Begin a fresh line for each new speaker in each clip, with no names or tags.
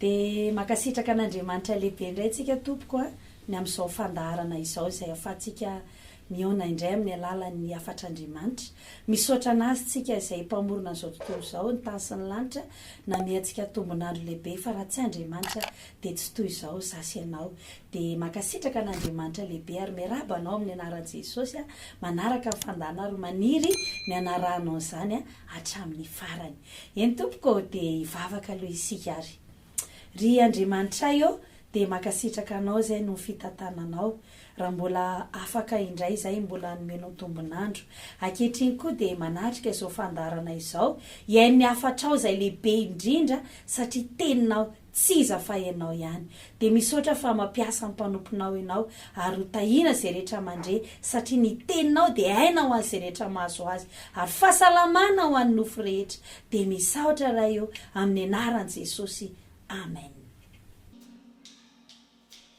Dia mankasitraka an'Andriamanitra lehibe indray tsika tompoko a, ny amin'izao fandaharana izao izay ahafahantsika mihaona indray amin'ny alalan'ny hafatr'Andriamanitra. Misaotra an'Azy tsika izay Mpamorona an'izao tontolo izao, ny tany sy ny lanitra, nanome antsika tombon'andro lehibe fa raha tsy Andriamanitra dia tsy toy izao za sy ianao. Dia mankasitraka an'Andriamanitra lehibe ary miarahaba anao amin'ny anaran'i Jesosy a, manaraka ny fandahanao ary maniry ny hanarahanao an'izany hatramin'ny farany. Eny tompoko ô dia hivavaka aloha isika ary. Ry Andriamanitray ô dia mankasitraka anao izay noho ny fitantananao, raha mbola afaka indray izay mbola hanomenao tombon'andro. Ankehitriny koa dia manatrika izao fandaharana izao, hihaino ny hafatrao izay lehibe indrindra satria teninao Tsy iza fa ianao ihany. Dia misaotra fa mampiasa ny mpanomponao ianao ary ho tahiana izay rehetra mandre satria ny teninao dia aina ho an'izay rehetra mahazo azy ary fahasalamana ho an'ny nofo rehetra. Dia misaotra Ray ô, amin'ny anaran'i Jesosy. Amen.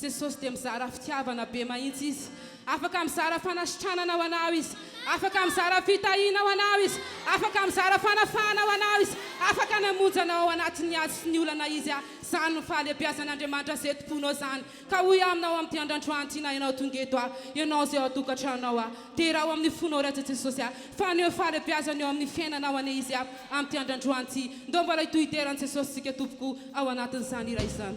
Jesosy dia mizara fitiavana be mahintsy Izy. Afaka mizara fanasitranana ho anao Izy. Afaka mizara fitahiana ho anao Izy. Afaka mizara fanafahana ho anao Izy. Afaka namonjy anao ao anatin'ny ady sy ny olana Izy a! Zany no fahalebiazan'Andriamanitra ze tompoinao zany. Ka hoy aminao amin'ity andrandroany ity na ianao tonga eto a! Ianao ze ao an-tokantranonao a! Dera ao amin'ny fonao Rajy Jesosy a Fa aneo fahalebiazana eo amin'ny fiainanao anie izy a Amin'ity andrandroany ity Ndao mba laido hidera an'i Jesosy tsika tompoko o Ao anatin'izany hira izany.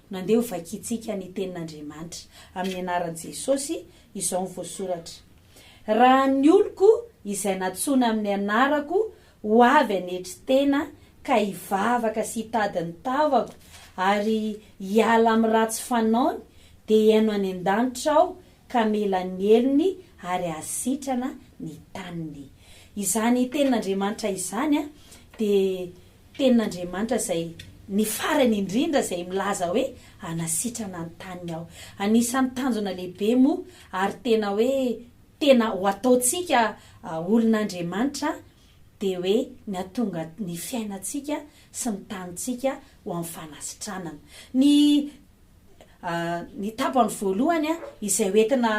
Nandeha ho vakintsika ny Tenin'Andriamanitra amin'ny anaran'i Jesosy izao ny voasoratra, Raha ny oloko izay nantsoina amin'ny anarako ho avy hanetry tena ka hivavaka sy hitady ny tavako ary hiala amin'ny ratsy fanaony, dia hihaino any an-danitra aho ka hamela ny helony ary hahasitrana ny taniny. Izany Tenin'Andriamanitra izany dia. Tenin'Andriamanitra izay ny farany indrindra izay milaza hoe hanasitrana ny taniny aho. Anisan'ny tanjona lehibe moa ary tena hoe tena ho ataontsika olon'Andriamanitra dia hoe ny hatonga ny fiainantsika sy ny tanintsika ho amin'ny fanasitranana. Ny Ny tapany voalohany izay ho entina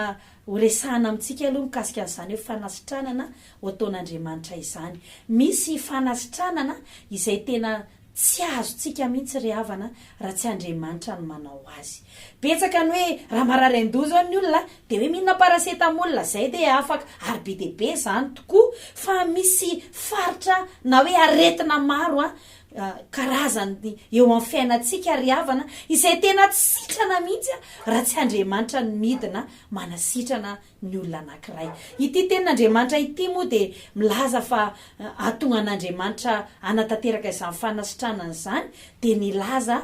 horesahana amintsika aloha mikasika an'izany hoe fanasitranana ho ataon'Andriamanitra izany. Misy fanasitranana izay tena tsy azontsika mihitsy ry havana raha tsy Andriamanitra no manao azy. Betsaka ny hoe raha marary an-doha izao ny olona dia hoe mihinana paracetamol izay dia afaka ary be dia be izany tokoa fa misy faritra na hoe aretina maro karazany eo amin'ny fiainantsika ry havana izay tena tsy sitrana mihitsy raha tsy Andriamanitra no midina manasitrana ny olona anankiray. Ity tenin'Andriamanitra ity moa dia milaza fa hahatonga an'Andriamanitra hanatanteraka izany fanasitranana izany dia nilaza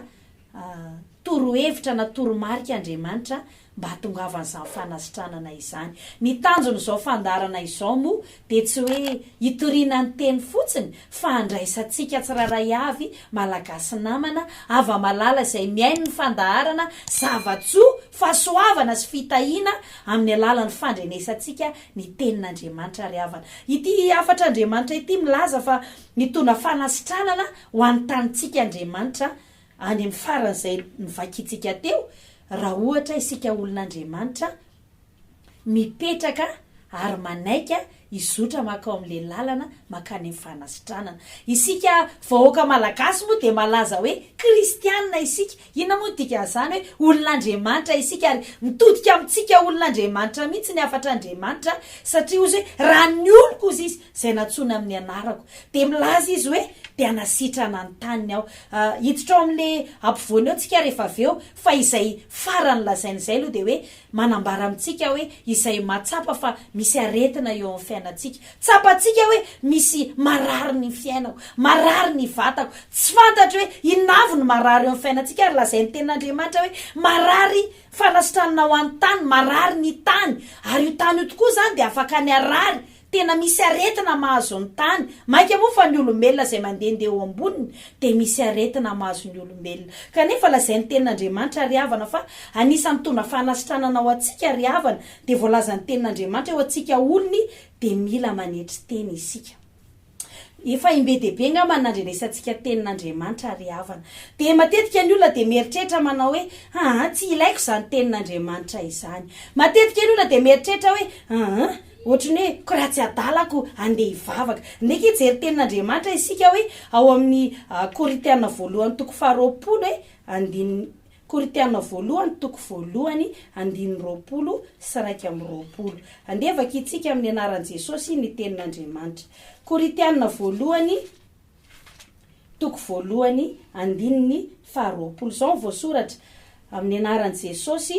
Torohevitra na toromarika Andriamanitra mba hahatongavan'izany fanasitranana izany. Ny tanjon'izao fandaharana izao moa dia tsy hoe hitoriana ny teny fotsiny fa handraisantsika tsirairay avy Malagasy namana hava-malala izay mihaino ny fandaharana zava-tsoa, fahasoavana sy fitahiana amin'ny alalan'ny fandrenesantsika ny tenin'Andriamanitra ry havana. Ity hafatr'Andriamanitra ity milaza fa hitondra fanasitranana ho an'ny tanintsika Andriamanitra Any amin'ny faran'izay novakintsika teo, raha ohatra isika olon'Andriamanitra mipetraka ary manaika hizotra mankao amin'ilay lalana mankany amin'ny fanasitranana. Isika vahoaka malagasy moa dia malaza hoe kristianina isika. Inona moa ny dikan'izany hoe olon'Andriamanitra isika? Ary mitodika amintsika olon'Andriamanitra mihitsy ny hafatr'Andriamanitra satria hozy hoe raha ny oloko hozy izy, izay nantsoina amin'ny anarako, dia milaza izy hoe, Te hanasitrana ny taniny aho. Hiditra ao amin'ilay ampovoany eo tsika rehefa avy eo, fa izay farany lazainy izay aloha dia hoe, manambara amintsika hoe izay mahatsapa fa misy aretina eo amin'ny fiainantsika. Tsapantsika hoe misy marary ny fiainako, marary ny vatako, tsy fantatro hoe inona avy no marary eo amin'ny fiainantsika, ary lazain'ny Tenin'Andriamanitra hoe, Marary fanasitranana ho an'ny tany, marary ny tany, ary io tany io tokoa izany dia afaka ny harary Tena misy aretina mahazo ny tany, mainka moa fa ny olombelona izay mandehandeha eo amboniny dia misy aretina mahazo ny olombelona. Kanefa lazain'ny Tenin'Andriamanitra ry havana fa anisan'ny mitondra fanasitranana ho antsika ry havana dia voalazan'ny Tenin'Andriamanitra eo antsika olony dia mila manetry tena isika. Efa im-be dia be angamba ny nandrenesantsika Tenin'Andriamanitra ry havana. Dia matetika ny olona dia mieritreritra manao hoe, aa tsy ilaiko izany Tenin'Andriamanitra izany. Matetika ny olona dia mieritreritra hoe, aa Ohatry ny hoe ko raha tsy adala ko andeha hivavaka. Ndeha hijery tenin'Andriamanitra isika hoe ao amin'ny Korintiana voalohany toko faharoapolo e, andininy, Korintiana voalohany toko voalohany andininy roapolo sy iraika amby roapolo. Andeha vakintsika amin'ny anaran'i Jesosy ny tenin'Andriamanitra. Korintiana voalohany. Toko voalohany, andininy faharoapolo. Izao no voasoratra, Amin'ny anaran'i Jesosy,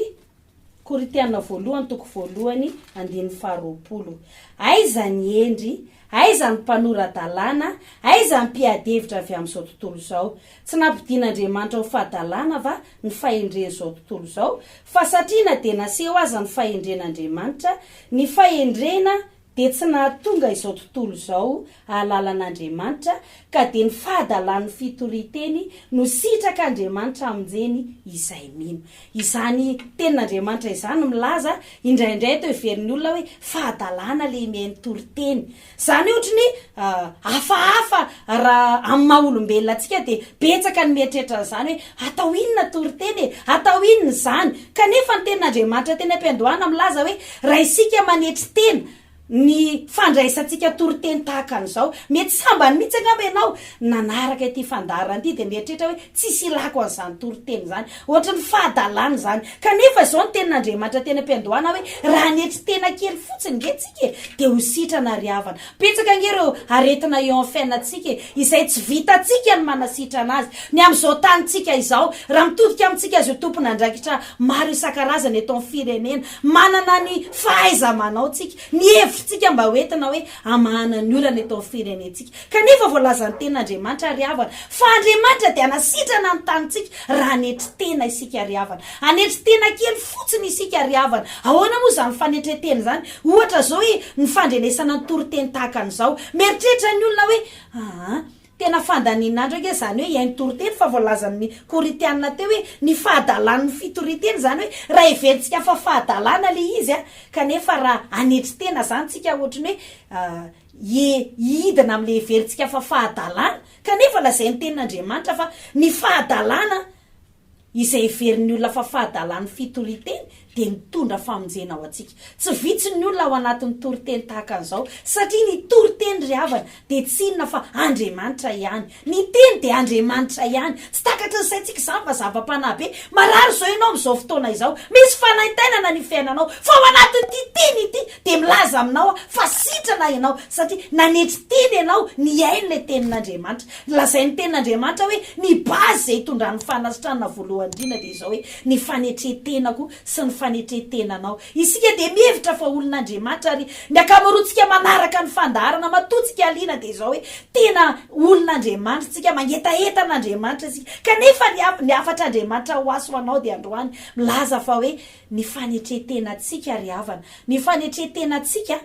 Korintiana voalohany toko voalohany andininy faharoapolo. Aiza ny hendry? Aiza ny mpanora-dalàna? Aiza ny mpiady-hevitra avy amin'izao tontolo izao? Tsy nampodian'Andriamanitra ho fahadalàna va ny fahendren'izao tontolo izao? Fa satria na dia naseho aza ny fahendren'Andriamanitra, ny fahendrena dia tsy nahatonga izao tontolo izao hahalala an'Andriamanitra, ka dia ny fahadalan'ny fitorian-teny no sitraka Andriamanitra hamonjeny izay mino. Izany tenin'Andriamanitra izany no milaza indraindray atao heverin'ny olona hoe fahadalana ilay miha-mitory teny. Izany ohatry ny hafahafa raha amin'ny maha olombelona antsika dia betsaka ny mieritreritra an'izany hoe atao inona toriteny e? Atao inona izany? Kanefa ny tenin'Andriamanitra teny am-piandohana milaza hoe Raha isika manetry tena ny fandraisantsika toriteny tahaka an'izao, mety sambany mihitsy angamba ianao nanaraka ity fandaharana ity dia mieritreritra hoe, Tsisy ilàko an'izany toriteny izany. Hoatry ny fahadalana izany. Kanefa izao ny Tenin'Andriamanitra teny am-piandohana hoe, Raha hanetry tena kely fotsiny ange tsika e, dia ho sitrana ry havana. Betsaka ange ireo aretina eo amin'ny fiainantsika e, izay tsy vitantsika ny manasitrana azy. Ny amin'izao tanintsika izao, raha mitodika amintsika azy ho tompon'andraikitra maro isan-karazany eto amin'ny firenena, Manana ny fahaiza-manao tsika, ny hevitsika mba ho entina hoe hamahana ny olana eto amin'ny firenentsika. Kanefa voalazan'ny Tenin'Andriamanitra ry havana, fa Andriamanitra dia hanasitrana ny tanintsika raha hanetry tena isika ry havana. Hanetry tena kely fotsiny isika ry havana. Ahoana moa izany fanetren-tena izany? Ohatra izao hoe, ny fandrenesana ny toriteny tahaka an'izao. Mieritreritra ny olona hoe, Aa, Tena fandanian'andro ange izany hoe hihaino toriteny fa voalazan'ny Korintiana teo hoe ny fahadalan'ny fitorian-teny izany hoe raha heverintsika fa fahadalana ilay izy a! kanefa raha hanetry tena izany tsika ohatry ny hoe hihidina amin'ilay heverintsika fa fahadalana kanefa lazain'ny tenin'Andriamanitra fa ny fahadalana Izay heverin'ny olona fa fahadalan'ny fitoriteny dia nitondra famonjena ho antsika. Tsy vitsy ny olona ao anatin'ny toriteny tahaka an'izao, satria ny toriteny ry havana dia tsy inona fa Andriamanitra ihany. Ny Teny dia Andriamanitra ihany. Tsy takatry ny saintsika izany fa zava-panahy be. Marary izao ianao amin'izao fotoana izao, misy fanaintainana ny fiainanao, fa ao anatin'ity Teny ity dia milaza aminao aho fa sitrana ianao satria nanetry tena ianao nihaino ilay Tenin'Andriamanitra. Lazain'ny Tenin'Andriamanitra hoe ny base izay hitondran'ny fanasitranana voalohany indrindra dia izao hoe ny fanetren-tenako sy ny fanetren-tenanao. Isika dia mihevitra fa olon'Andriamanitra ary ny ankamaroantsika manaraka ny fandaharana matoantsika alina dia izao hoe tena olon'Andriamanitra isika, mangetaheta an'Andriamanitra isika. Kanefa ny ny hafatr'Andriamanitra ho ahy sy ho anao dia androany milaza fa hoe ny fanetren-tenantsika ry havana, ny fanetren-tenantsika,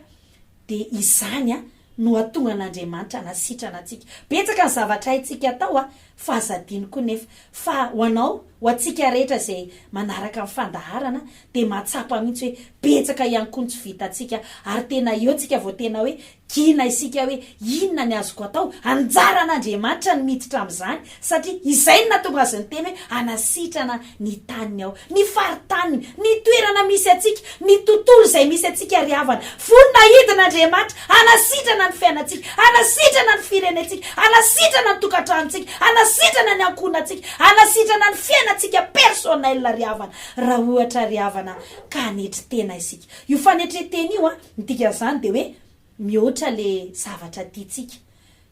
Dia izany no hahatonga an'Andriamanitra hanasitrana antsika. Betsaka ny zavatra haintsika atao fa aza adino koa nefa fa ho anao, ho antsika rehetra izay manaraka ny fandaharana dia mahatsapa mihitsy hoe betsaka ihany koa ny tsy vitantsika ary tena eo tsika vao tena hoe gina isika hoe inona ny azoko atao? Anjaran'Andriamanitra ny miditra amin'izany Satria izay no nahatonga azy niteny hoe, Hanasitrana ny taniny aho. Ny faritaniny, ny toerana misy antsika, ny tontolo izay misy antsika ry havana. Voninahidin' Andriamanitra, hanasitrana ny fiainantsika, hanasitrana ny firenentsika, hanasitrana ny tokantranontsika, hanasitrana ny ankohonantsika, hanasitrana ny fiainantsika personnel ry havana, raha ohatra ry havana ka hanetry tena isika. Io fanetren-tena io, ny dikan'izany dia hoe mihoatra ilay zavatra tiantsika.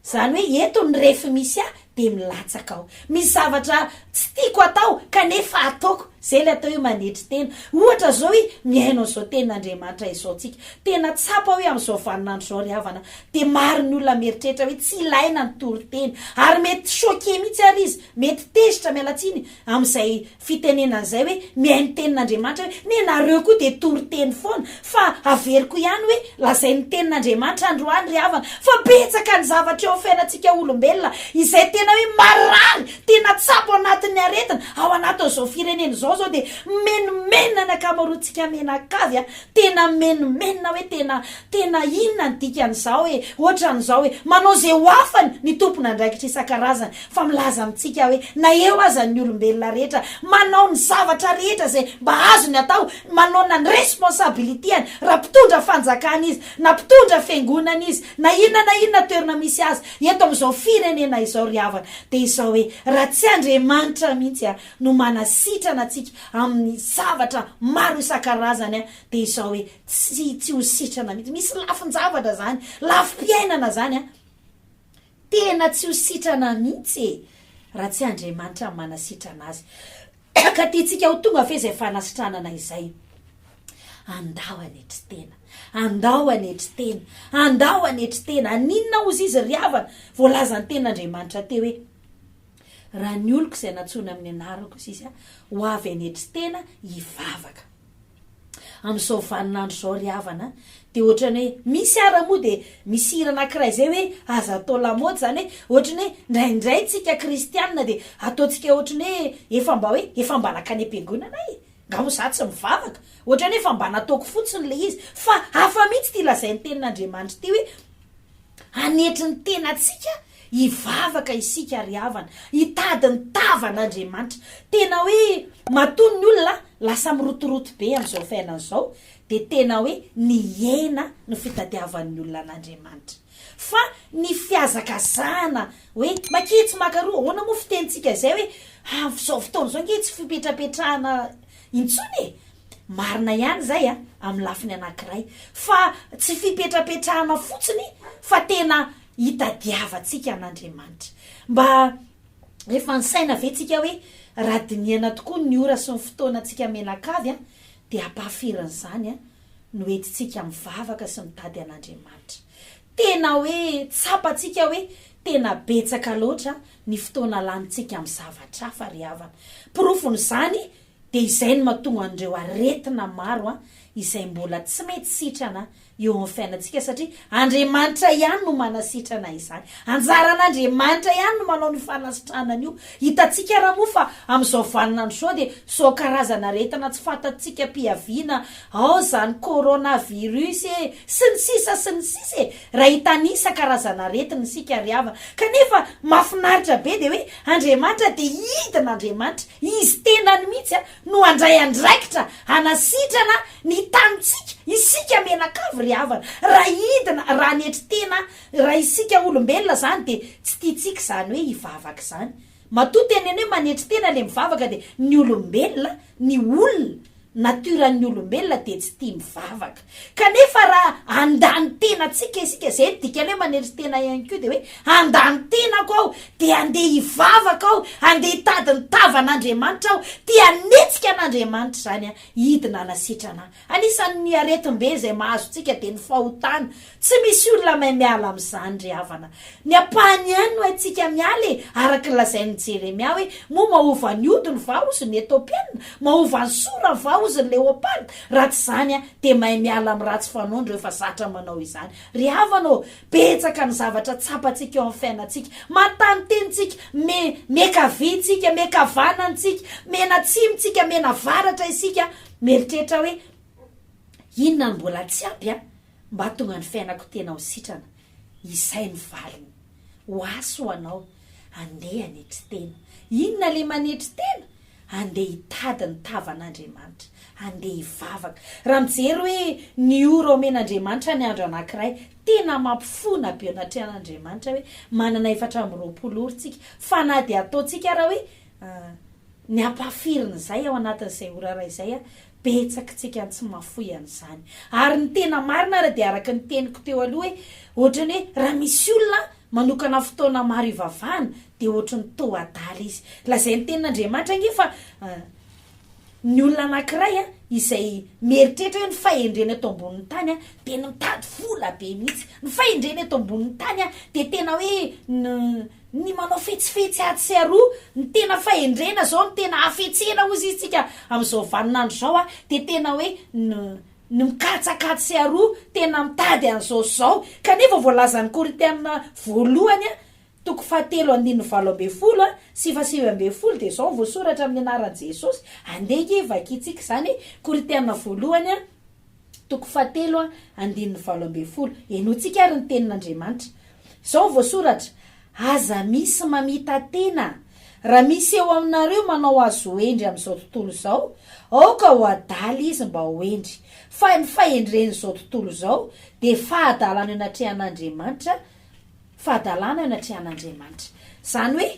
Izany hoe eto ny ref misy ahy dia milatsaka ao. Misy zavatra tsy tiako atao kanefa ataoko. Izay ilay atao hoe manetry tena. Ohatra izao hoe mihaino an'izao tenin'Andriamanitra izao tsika. Tena tsapa hoe amin'izao vaninandro izao ry havana dia maro ny olona mieritreritra hoe tsy ilaina ny toriteny. Ary mety choquer mihitsy ary izy, mety tezitra, miala tsiny, amin'izay fitenenana izay hoe mihaino ny tenin'Andriamanitra hoe me nareo koa dia toriteny foana fa averiko ihany hoe lazainy ny tenin'Andriamanitra androany ry havana fa betsaka ny zavatra eo amin'ny fiainantsika olombelona izay tena hoe marary tena tsapo anatin'ny aretina ao anatin'izao firenena izao izao dia mimenomenona ny ankamaroantsika mianakavy a tena mimenomenona hoe tena tena inona ny dikan'izao e ohatran'izao e manao izay ho afany ny tompon'andraikitra isan-karazany fa milaza amintsika hoe na eo aza ny olombelona rehetra manao ny zavatra rehetra izay mba azony atao, manaona ny responsabilitiany raha mpitondra fanjakana izy, na mpitondra fiangonana izy, na inona na inona toerana misy azy eto amin'izao firenena izao ry havana dia izao hoe raha tsy Andriamanitra mihitsy no manasitrana antsika amin'ny zavatra maro isan-karazany dia izao hoe tsy tsy ho sitrana mihitsy, misy lafin-javatra izany, lafim-piainana izany an! Tena tsy ho sitrana mihitsy e! raha tsy Andriamanitra no manasitrana azy. Ka tiantsika ho tonga ve izay fanasitranana izay? Andao hanetry tena! Andao hanetry tena! Andao hanetry tena! Aninona hozy izy ry havana? Voalaza ny Tenin'Andriamanitra teo hoe, Raha ny oloko izay nantsoina amin'ny anarako, hozy izy, ho avy hanetry tena, hivavaka. Amin'izao vaninandro izao ry havana a, dia ohatran'ny hoe misy ara moa dia misy hira anankiray izay hoe aza atao lamaody izany hoe ohatran'ny hoe indraindray tsika kristianina dia ataontsika ohatran'ny hoe efa mba hoe efa mba nankany am-piangonana e! Nga moa za tsy mivavaka? Ohatran'ny hoe efa mba nataoko fotsiny ilay izy. Fa hafa mihitsy ity lazain'ny tenin'Andriamanitra ity hoe hanetry ny tenantsika Hivavaka isika ry havana, hitady ny tavan' Andriamanitra. Tena hoe matoa ny olona lasa mirotoroto be amin'izao fiainana izao dia tena hoe nihena ny fitadiavan'ny olona an' Andriamanitra. Fa ny fihazakazahana hoe makia tsy maka roa, ahoana moa fitenintsika izay hoe amin'izao fotoana izao ange tsy fipetrapetrahana intsony e! Marina ihany izay amin'ny lafiny anankiray fa tsy fipetrapetrahana fotsiny fa tena hitadiavantsika an'Andriamanitra. Mba efa nisaina ve tsika hoe raha dinihana tokoa ny ora sy ny fotoanantsika menakavy dia ampahafirin'izany no hentintsika mivavaka sy mitady an'Andriamanitra? Tena hoe tsapantsika hoe tena betsaka loatra ny fotoana lanintsika amin'ny zavatra hafa ry havana. Porofon'izany dia izay no mahatonga an'ireo aretina maro izay mbola tsy mety sitrana eo amin'ny fiainantsika satria Andriamanitra ihany no manasitrana izany. Anjaran'Andriamanitra ihany no manao an'io fanasitranana io. Hitantsika ary moa fa amin'izao vaninandro izao dia izao karazana aretina tsy fantatsika am-piaviana ao izany coronavirus e, sy ny sisa sy ny sisa e, raha hitanisa karazana aretina isika ry havana. Kanefa mahafinaritra be dia hoe Andriamanitra dia hidin'Andriamanitra, izy tenany mihitsy no handray andraikitra hanasitrana ny tanintsika isika mianakavy ry havana raha hidina raha hanetry tena raha isika olombelona zany de tsy tiantsika zany hoe hivavaka izany matoa teneny hoe manetry tena le mivavaka de ny olombelona ny olona nature ny olombelona de tsy tia mivavaka. Kanefa raha handany tena antsika isika, izay no dikany hoe manery tena ihany koa, dia hoe handany tenako aho, dia handeha hivavaka aho, handeha hitady ny tavan'Andriamanitra aho, te hanetsika an'Andriamanitra izany an, hidina hanasetrana ahy. Anisan'ny aretim-be izay mahazo antsika dia ny fahotana. Tsy misy olona mahay miala amin'izany ry havana. Ny ampahany ihany no haintsika miala e, araka ny lazain'i Jeremia hoe, moa mahova ny hodiny va hozy ny Etiopiana? mahova ny sorany va hozy ny leoparda? raha tsy izany aho dia mahay miala amin'ny ratsy fanaony ireo efa zatra manao izany. Ry havana ô, betsaka ny zavatra tsapantsika eo amin'ny fiainantsika, matanin'ny tenintsika, me, miakavia isika, miakavanana isika, miaina atsimo isika, miaina avaratra isika, mieritreritra hoe, inona no mbola tsy ampy an, mba hahatonga ny fiainako tena ho sitrana? Izay no valiny. Ho ahy sy ho anao, andeha hanetry tena. Inona ilay manetry tena? Andeha hitady ny tavan'Andriamanitra. Andeha hivavaka. Raha mijery hoe ny ora omen'Andriamanitra ny andro anankiray, tena mampifona be anatrehan'Andriamanitra hoe manana efatra amby roapolo ora isika. Fa na dia ataontsika ary hoe, Ny ampahafirin'izay ao anatin'izay ora iray izay aho, betsak tsika tsy mafoy an zany ary ny tena marina ary dia araka ny teniko teo aloha hoe ohatrany hoe raha misy olona manokana fotoana maro hivavahana dia ohatry ny toa adala izy lazay ny tenin Andriamanitra ange fa ny olona anakiray an izay mieritreritra hoe ny fahendrena eto ambonin'ny tany an dia ny mitady vola be mihitsy ny fahendrena eto ambonin'ny tany an dia tena hoe ny Ny manao fetsifetsy atsy sy aroa, ny tena fahendrena zao, ny tena hafetsena hozy izy tsika amin'izao vanin'andro zao a, dia tena hoe ny ny mikatsaka atsy sy aroa, tena mitady an'izao sy zao. Kanefa voalazan'ny Korintiana voalohany a, toko fahatelo andininy valo ambin'ny folo a, sy fahasivy ambin'ny folo dia zao no voasoratra amin'ny anaran'i Jesosy, andeha nge vakintsika izany, Korintiana voalohany a, toko fahatelo a, andininy valo ambin'ny folo. Henointsika ary ny Tenin'Andriamanitra. Izao no voasoratra, Aza misy mamita-tena. Raha misy eo aminareo manao azy ho hendry amin'izao tontolo izao, aoka ho adala izy mba ho hendry. Fa ny fahendren'izao tontolo izao dia fahadalana eo anatrehan'Andriamanitra. fahadalana eo anatrehan'Andriamanitra. Izany hoe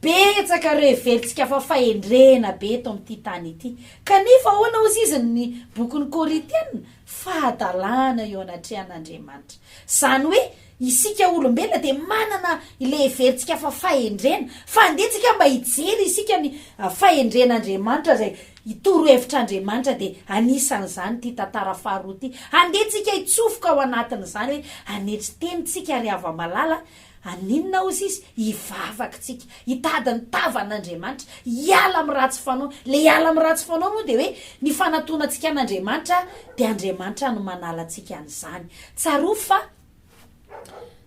betsaka ireo heverintsika fa fahendrena be eto amin'ity tany ity. Kanefa ahoana hozy izy ny bokin'ny Korintiana? Fahadalana eo anatrehan'Andriamanitra. Izany hoe isika olombelona dia manana ilay heverintsika fa fahendrena. Fa andeha tsika mba hijery isika ny fahendren'Andriamanitra izay Ny torohevitr'Andriamanitra dia anisan'izany ity tantara faharoa ity. Handeha tsika hitsofoka ao anatin'izany hoe hanetry teny tsika ry hava-malala, haninona hozy izy? hivavaka tsika, hitady ny tavan'Andriamanitra, hiala amin'ny ratsy fanao. Ilay hiala amin'ny ratsy fanao moa dia hoe ny fanatonantsika an'Andriamanitra dia Andriamanitra no manala antsika an'izany. Tsarovy fa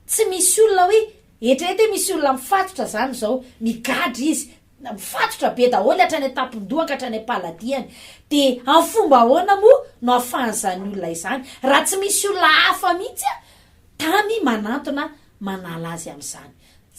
tsy misy olona hoe, eritrereto hoe misy olona mifatotra izany izao, migadra izy, Na mifatotra be daholo hatrany an-tampon-dohany ka hatrany am-paladiany, dia amin'ny fomba ahoana moa no ahafahan'izany olona izany, raha tsy misy olona hafa mihitsy tany manantona manala azy amin'izany?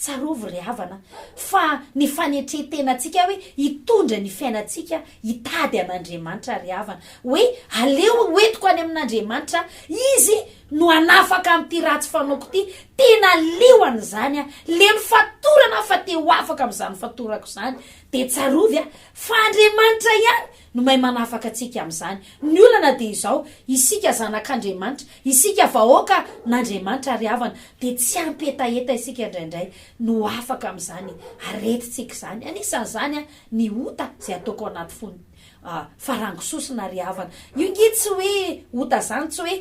Tsarovy ry havana fa ny fanetren-tenantsika hoe hitondra ny fiainantsika hitady an'Andriamanitra ry havana, hoe aleo hoentiko any amin'Andriamanitra Izy no hanafaka an'ity ratsy fanaoko ity, tena liohany izany a, leno fatorana aho fa te ho afaka amin'izany fatorako izany, dia tsarovy a, fa Andriamanitra ihany no mahay manafaka antsika amin'izany, ny olana dia izao, isika zanak'Andriamanitra, isika vahoaka n'Andriamanitra ry havana, dia tsy ampy hetaheta isika indraindray no ho afaka amin'izany aretintsika izany, anisan'izany a, ny ota izay ataoko ao anaty fony. Ah, fa rango sosona ry havana. Io nge tsy hoe ota zany tsy hoe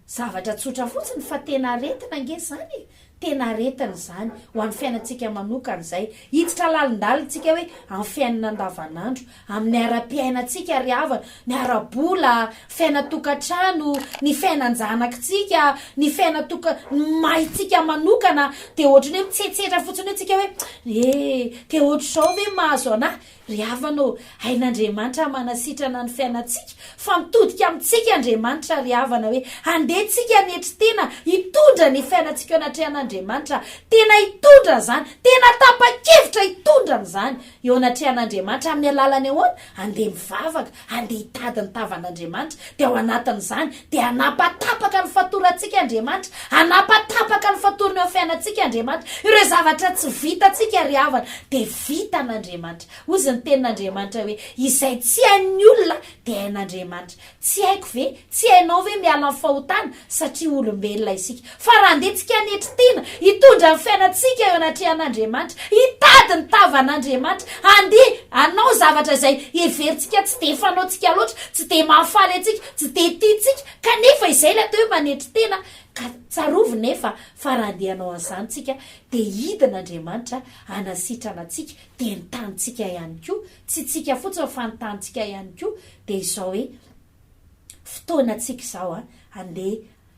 zavatra tsotra fotsiny fa tena aretina ange zany e! Tena aretina izany ho an'ny fiainantsika manokana izay. Hiditra lalindalina tsika hoe amin'ny fiainana andavanandro, amin'ny ara-piainantsika ry havana, ny ara-bola, fiainan-tokantrano, ny fiainan-janakitsika, ny fiainan-toka, ny mahintsika manokana dia ohatran'ny hoe mitsetsetra fotsiny eo tsika hoe eh, dia ohatr'izao ve mahazo anah? Ry havana ô, hain'Andriamanitra manasitrana ny fiainantsika fa mitodika amintsika Andriamanitra ry havana hoe handeha tsika hanetry tena hitondra ny fiainantsika eo anatrehan'Andriamanitra, tena hitondra izany, tena tapa-kevitra hitondra an'izany eo anatrehan'Andriamanitra amin'ny alalan'ny ahoana? Handeha mivavaka, Handeha hitady ny tavan'Andriamanitra, dia ao anatin'izany dia hanapatapaka ny fatorantsika Andriamanitra, hanapatapaka ny fatorany eo amin'ny fiainantsika Andriamanitra. Ireo zavatra tsy vitantsika ry havana dia vitan'Andriamanitra. Hoy izy ny tenin'Andriamanitra hoe, izay tsy hain'ny olona dia hain'Andriamanitra. Tsy haiko ve? Tsy hainao ve miala amin'ny fahotana satria olombelona isika? Fa raha andehantsika hanetry tena, hitondra ny fiainantsika eo anatrehan'Andriamanitra, hitady ny tavan'Andriamanitra, handeha hanao zavatra izay heverintsika tsy dia fanaontsika loatra, tsy dia mahafaly antsika, tsy dia tiantsika, kanefa izay ilay atao hoe manetry tena, ka tsarovy nefa fa raha andeha hanao an'izany isika dia hidin'Andriamanitra hanasitrana antsika, dia ny tanintsika ihany koa, tsy tsika fotsiny fa ny tanintsika ihany koa, dia izao hoe. Fotoanantsika izao an, andeha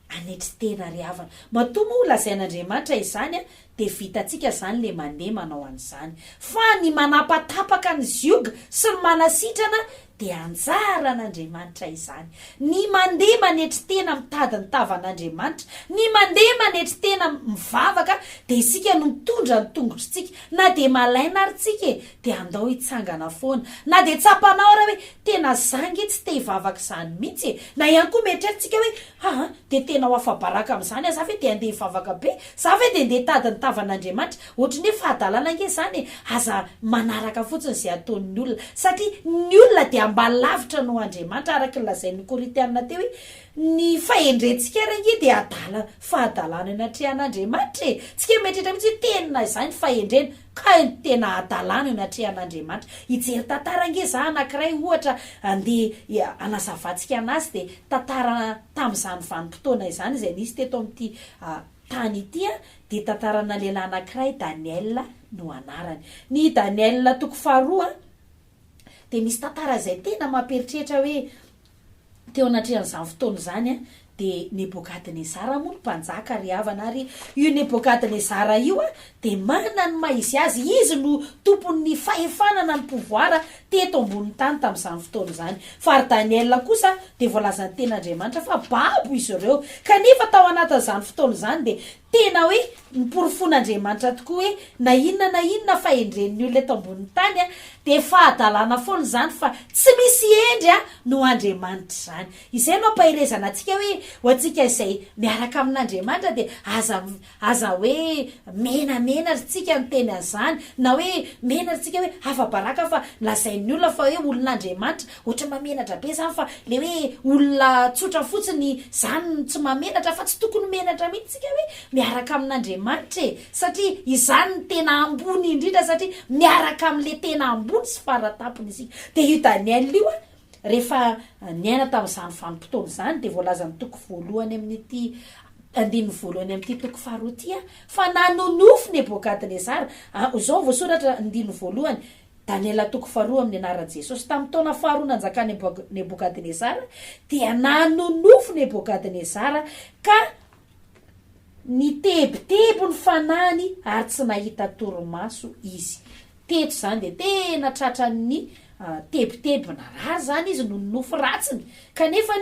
hanetry tena ry havana. Matoa moa ho lazain'Andriamanitra izany an, dia vitantsika izany ilay mandeha manao an'izany. Fa ny manapatapaka ny zioga sy ny manasitrana dia anjaran'Andriamanitra izany. Ny mandeha manetry tena mitady ny tavan'Andriamanitra, ny mandeha manetry tena mivavaka dia isika no mitondra ny tongotritsika. Na dia malaina ary tsika e, dia andao hitsangana foana, na dia tsapanao ary hoe tena za nge tsy te hivavaka izany mihitsy e! na ihany koa mieritreritsika hoe aa dia tena ho afa-baraka amin'izany aho, za ve dia handeha hivavaka be? za ve dia handeha hitady ny tavan'Andriamanitra? ohatry ny hoe fahadalana ange izany e! aza manaraka fotsiny izay ataon'ny olona, satria ny olona dia mba lavitra noho Andriamanitra, araka ny lazain'ny Korintiana teo hoe ny fahendrentsika ary ange dia adala fahadalana eo anatrehan'Andriamanitra e! tsy kemieritreritra mihitsy hoe tena izay ny fahendrena, Kay no tena hadalana eo ny atrehan'Andriamanitra. Hijery tantara ange za anankiray ohatra andeha hanazavantsika anazy dia tantara tamin'izany vanim-potoana izany izay nisy teto amin'ity tany ity an, dia tantarana lehilahy anankiray Daniel no anarany. Ny Daniel toko faharoa dia misy tantara izay tena mampieritreritra hoe Teo anatrehan'izany fotoana izany dia Nebokadnezara moa no mpanjaka ry havana ary io Nebokadnezara io dia manana ny maha izy azy, izy no tompon'ny fahefana na ny pouvoir teto ambonin'ny tany tamin'izany fotoana izany. Fa ry Daniela kosa dia voalazan'ny tenin'Andriamanitra fa babo izy ireo. Kanefa tao anatin'izany fotoana izany dia Tena hoe noporofoan'Andriamanitra tokoa hoe na inona na inona fahendren'ny olona eto ambonin'ny tany dia fahadalana foana izany fa tsy misy hendry noho Andriamanitra izany. Izay no ampaherezana antsika hoe ho antsika izay miaraka amin'Andriamanitra dia aza aza hoe menamena ry tsika ny teny an'izany na hoe mena ry tsika hoe afa-baraka fa lazain'ny olona fa hoe olon'Andriamanitra Ohatran'ny mahamenatra be zany fa le hoe olona tsotra fotsiny zany no tsy mahamenatra fa tsy tokony menatra mihitsy tsika hoe miaraka amin'Andriamanitra e! satria izany no tena ambony indrindra satria miaraka amle tena ambony sy faratampony isika de io Daniel io a rehefa niaina tamin'izany vanim-potoana izany de voalazan'ny toko voalohany amin'ity andininy voalohany amin'ity toko faharoa ity a fa nanonofy Nebokadnezara a zao voasoratra andininy voalohany Daniela toko faharoa Amin'ny anaran'i Jesosy, tamin'ny taona faharoa nanjakan'i Nebokadnezara, dia nanonofy Nebokadnezara ka nitebiteby ny fanahiny ary tsy nahita torimaso izy. Teto izany dia tena tratran'ny tebiteby narary izany izy noho ny nofy ratsiny, kanefa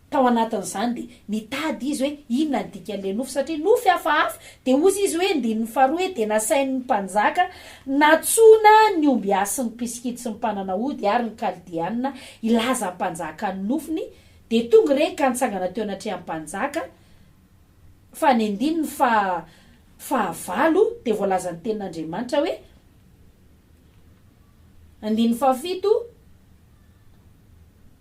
Tao anatin'izany dia nitady izy hoe inona ny dikan'ilay nofy satria nofy hafahafa, dia hozy izy hoe, andininy faharoa hoe, dia nasain'ny mpanjaka nantsoina ny ombiasy sy ny mpisikidy sy ny mpanana hody ary ny Kaldeanina hilaza ampanjaka ny nofiny, dia tonga ireny ka nitsangana teo anatrehan'ny mpanjaka, fa ny andininy faha fahavalo dia voalazan'ny tenin'Andriamanitra hoe, andininy fahafito,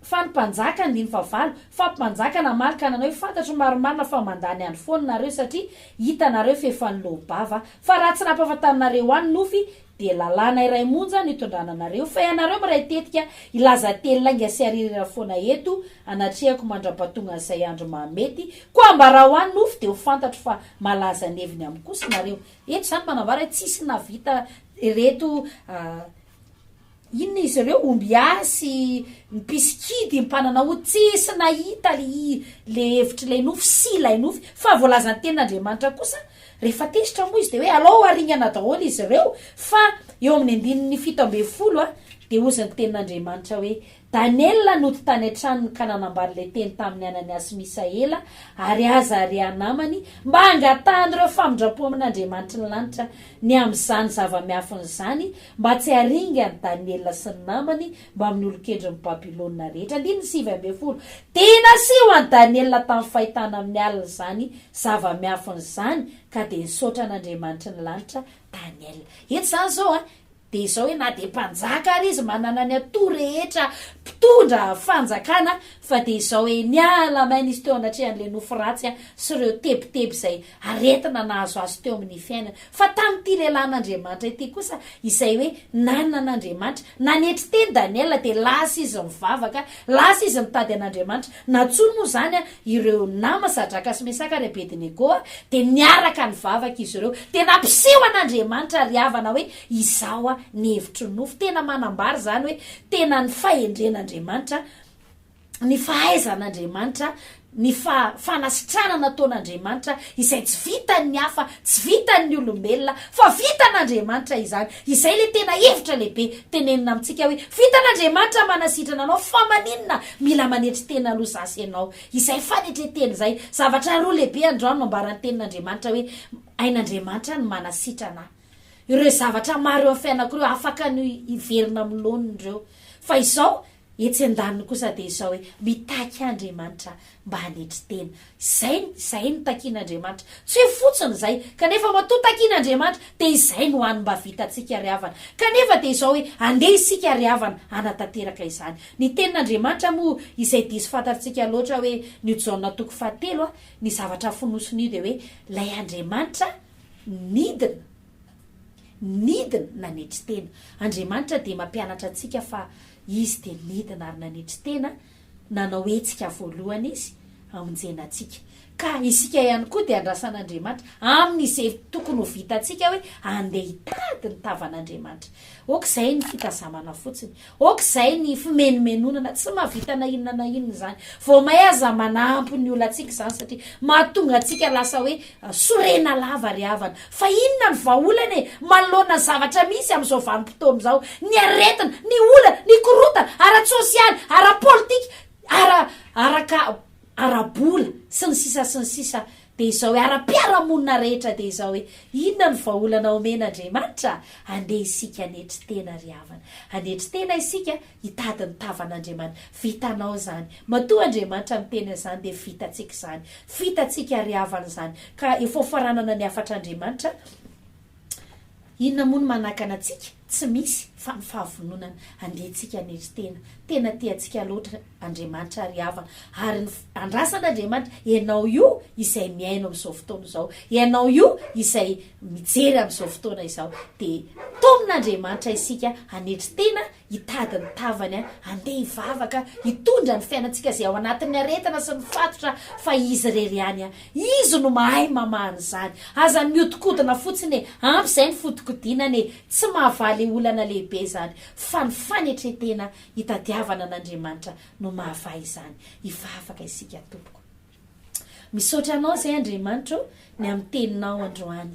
Fa ny mpanjaka, andininy fahavalo, fa mpanjaka namaly ka nanao hoe, Fantatro marimarina fa mandany andro foana nareo, satria hitanareo fa efa niloa-bava, fa raha tsy nampahafantarinareo ahy ny nofy, dia lalàna iray monja no itondrana anareo, fa ianareo miray tetika hilaza teny lainga sy haririra foana eto anatrehako mandra-pahatongan'izay andro mahamety, koa ambarao ahy ny nofy, dia ho fantatro fa malaza ny heviny amiko kosa nareo. Eto izany manambara hoe tsisy nahavita ireto Inona izy ireo? Omby ihany sy ny mpisikidy mpanana hoho tsisy nahita ilay hevitr'ilay nofy sy ilay nofy. Fa voalazan'ny Tenin'Andriamanitra kosa, Rehefa tezitra moa izy, dia hoe, Alao haringana daholo izy ireo, fa eo amin'ny andininy fito ambin'ny folo dia hozy ny Tenin'Andriamanitra hoe, Daniela nody tany an-tranony ka nanambara ilay teny tamin'i Anania sy Misaela ary Azaria namany mba hangatahan'ireo famindram-po amin'Andriamanitry ny lanitra ny amin'izany zava-miafina izany, mba tsy haharinga an'i Daniela sy ny namany mbamin'ny olon-kendrin'i Babylona rehetra. Andininy sivy ambin'ny folo, Dia nasiho an'i Daniela tamin'ny fahitana amin'ny alina izany zava-miafina izany, ka dia nisaotra an'Andriamanitry ny lanitra Daniela. Eto izany izao, Dia izao hoe na dia mpanjaka ary izy manana ny atoa rehetra mpitondra fanjakana fa dia izao hoe niala maina izy teo anatrehan'ilay nofy ratsy sy ireo tebiteby izay aretina nahazo azy teo amin'ny fiainany. Fa tamin'ity lehilahin'Andriamanitra ity kosa izay hoe nanana an'Andriamanitra. Nanetry teny Daniela dia lasa izy nivavaka, lasa izy nitady an'Andriamanitra. Nantsoiny moa izany ireo nama Sadraka sy Mesaka ary Abedinego dia niaraka nivavaka izy ireo dia nampiseho an'Andriamanitra ry havana hoe izao ny hevitry ny nofo, tena manambara izany hoe tena ny fahendren'Andriamanitra, ny fahaizan'Andriamanitra, ny fanasitranana ataon'Andriamanitra izay tsy vitan'ny hafa, tsy vitan'ny olombelona fa vitan'Andriamanitra izany, Izay ilay tena hevitra lehibe tenenina amintsika hoe, Vitan'Andriamanitra manasitrana anao, fa maninona mila manetry tena aloha za sy ianao? Izay fanetren-tena izay. Zavatra roa lehibe androany no ambaran'ny Tenin'Andriamanitra hoe, Hain'Andriamanitra ny manasitrana ahy. Ireo zavatra maro eo amin'ny fiainako ireo afaka ny hiverina amin'ny laoniny ireo. Fa izao, Etsy andaniny kosa dia izao hoe mitaky Andriamanitra mba hanetry tena. Izay, izay no takian'Andriamanitra. Tsy hoe fotsiny izay, kanefa matoa takian'Andriamanitra dia izay no hany mba vitantsika ry havana. Kanefa dia izao hoe andeha isika ry havana hanatanteraka izany. Ny tenin'Andriamanitra moa izay diso fantatrtsika loatra hoe nio Jaona toko fahatelo a, ny zavatra fonosin'io dia hoe ilay Andriamanitra nidina. Nidina, nanetry tena. Andriamanitra dia mampianatra antsika fa Izy dia nidina ary nanetry tena, nanao hetsika voalohany Izy, hamonjena antsika. Ka isika ihany koa dia andrasan'Andriamanitra, aminy izay tokony ho vitantsika hoe andeha hitady ny tavan'Andriamanitra. Ok, izay ny fitazamana fotsiny. Ok zay ny fimenomenonana tsy mahavita na inona na inona zany. Vao may aza manampy ny olantsika zany satria mahatonga antsika lasa hoe sorena lava ry havana. Fa inona ny vahaolana e? Manoloana ny zavatra misy amin'izao vanim-potoana izao, ny aretina, ny olana, ny korontana ara-tsosialy, ara-politika, ara, araka ara-bola sy ny sisa sy ny sisa dia izao hoe ara-piarahamonina rehetra dia izao hoe inona no vahaolana omen Andriamanitra? Andeha isika hanetry tena ry havana. Hanetry tena isika hitady ny tavan Andriamanitra. Vitanao izany. Matoa Andriamanitra miteny an'izany dia vitantsika izany. Vitantsika ry havana izany. Ka efa hofaranana ny hafatra Andriamanitra. Inona moa no manakana antsika? Tsy misy, fa ny fahavononana. Andeha tsika hanetry tena. Tena tia antsika loatra Andriamanitra ry havana. Ary ny andrasan' Andriamanitra, ianao io izay mihaino amin'izao fotoana izao, ianao io izay mijery amin'izao fotoana izao, dia taomin' Andriamanitra isika hanetry tena, Hitady ny tavany an! Andeha hivavaka hitondra ny fiainantsika izay ao anatin'ny aretina sy ny fatotra fa Izy irery ihany an! Izy no mahay mamaha an'izany! Aza mihodinkodina fotsiny e! Ampy izay ny fodikodinana e! Tsy mahavaly olana lehibe izany fa ny fanetren-tena hitadiavana an'Andriamanitra no mahavaha izany! Hivavaka isika tompoko. Misaotra anao zay Andriamanitro ny amin'ny teninao androany.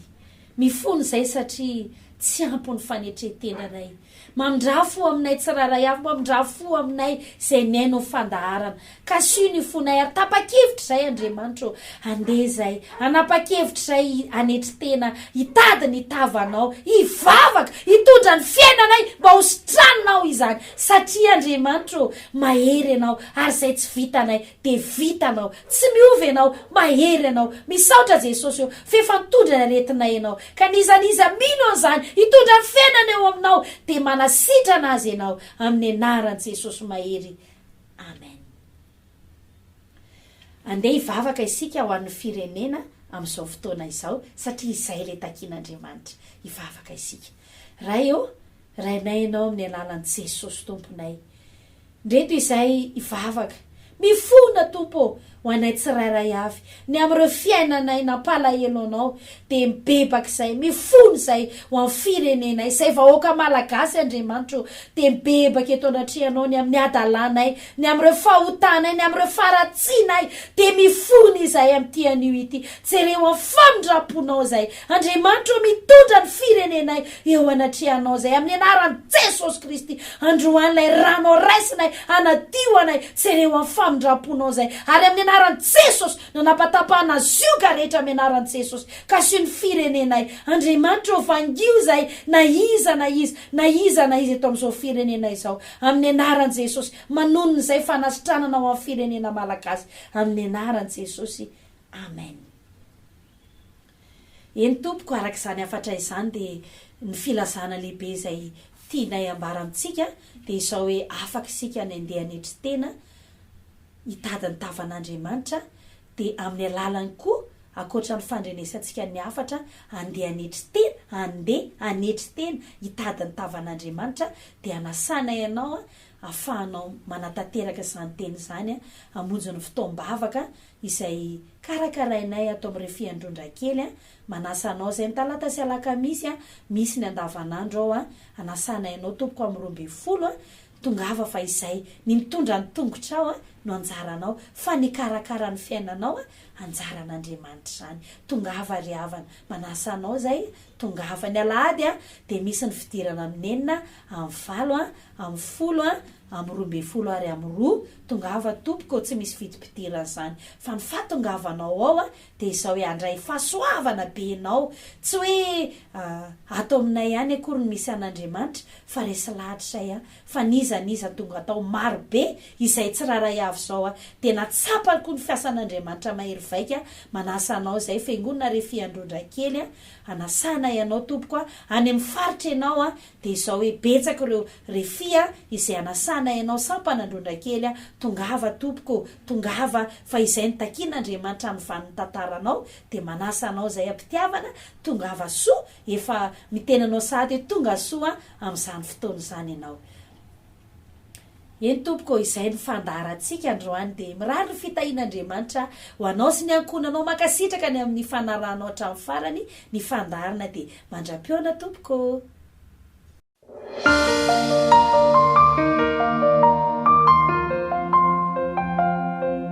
Mifono izay satria tsy ampy ny fanetren-tenanay. Mamindraha fo aminay tsirairay avy, mamindraha fo aminay izay mihaino ny fandaharana. Kasio ny fonay ary tapa-kevitra izay Andriamanitro handeha izay, hanapa-kevitra izay hanetry tena, hitady ny tavanao, hivavaka, hitondra ny fiainanay mba ho sitranonao izany satria Andriamanitro mahery ianao ary izay tsy vitanay de vita anao, tsy miova ianao, mahery ianao, misaotra Jesosy ô f'efa nitondra ny aretinay ianao, ka n'iza n'iza mino an'izany hitondra ny fiainany eo aminao de manasitrana azy ianao amin'ny anaran'i Jesosy mahery Amen. Andeha hivavaka isika ho an'ny firenena amin'izao fotoana izao satria izay ilay takian'Andriamanitra, hivavaka isika. Ray ô, Rainay Ianao amin'ny alalan'i Jesosy Tomponay. Ndreto izahay hivavaka. Mifona, Tompo ô, ho anay tsirairay avy, ny amin'ireo fiainanay nampalahelo Anao, dia mibebaka izahay, mifona izahay ho amin'ny firenenay, izay vahoaka Malagasy, Andriamanitra ô, dia mibebaka eto anatrehanao ny amin'ny hadalanay Ny amin'ireo fahotanay, ny amin'ireo faharatsianay, dia mifona izahay amin'ity anio ity. Jereo amin'ny famindram-ponao izay. Andriamanitra ô, mitondra ny firenenay eo anatrehanao izay, amin'ny anaran'i Jesosy Kristy. Androany ilay ranao raisinay, hanadio anay. Jereo amin'ny famindram-ponao izay. Ary amin'ny anaran'i Jesosy, nanapatapahana zioga rehetra amin'ny anaran'i Jesosy. Kasio ny firenenay. Andriamanitra ô, vangio izay, na iza na iza, na iza na iza eto amin'izao firenenay izao. Amin'ny anaran'i Jesosy. Manono izay fanasitranana ho an'ny firenena Malagasy amin'ny anaran'i Jesosy. Amen. Eny tompoko, araka izany hafatra izany dia ny filazana lehibe izay tianay ambara amintsika dia izao hoe afaka isika ny andeha hanetry tena hitady ny tavan'Andriamanitra, dia amin'ny alalany koa, ankoatra ny fandrenesantsika ny hafatra handeha hanetry tena, handeha hanetry tena hitady ny tavan'Andriamanitra, dia hanasana ianao hahafahanao manatanteraka izany tena izany hamonjy ny fotoam-bavaka izay karakarainay ato amin'ireo Fiandron-dra kely. Manasa anao izay ny talata sy alakamisy misy ny andavanandro ao, hanasana ianao tompoko amin'ny roa ambin'ny folo Tongava fa izay, ny mitondra ny tongotrao a, no anjaranao, fa ny hikarakara ny fiainanao a, anjaran'Andriamanitra izany. Tongava ry havana, manasa anao izay, tongava. Ny alahady a, dia misy ny fidirana amin'ny enina a, amin'ny valo a, amin'ny folo a, amin'ny roa ambin'ny folo ary amin'ny roa, tongava tompoko ô, tsy misy vidim-pidirana izany, fa ny fahatongavanao ao a, Dia izao ihany Ray, fahasoavana be Ianao, tsy hoe ah, ato aminay ihany akory no misy an'Andriamanitra, fa resy lahatra izay an, fa n'iza n'iza tonga tao, maro be, izay tsirairay avy izao an, dia natsapany koa ny fiasan'Andriamanitra mahery vaika, manasa anao izay fiangonana re fiandron-drakely an, anasanay Ianao tompoko an, any amin'ny faritra Ianao an, Dia izao hoe betsaka ireo refia a, izay anasana ianao sampana ndrondra kely a, tongava tompoko ô, tongava fa izay no takian' Andriamanitra amin'ny vanin'ny tantaranao, dia manasa anao izay am-pitiavana, tongava soa, efa miteny anao sahady hoe tonga soa amin'izany fotoana izany ianao. Eny tompoko ô izay no fandaharantsika androany dia mirary ny fitahian' Andriamanitra ho anao sy ny ankohonanao mankasitraka ny amin'ny fanarahanao hatramin'ny farany ny fandaharana dia mandra-pihaona tompoko ô.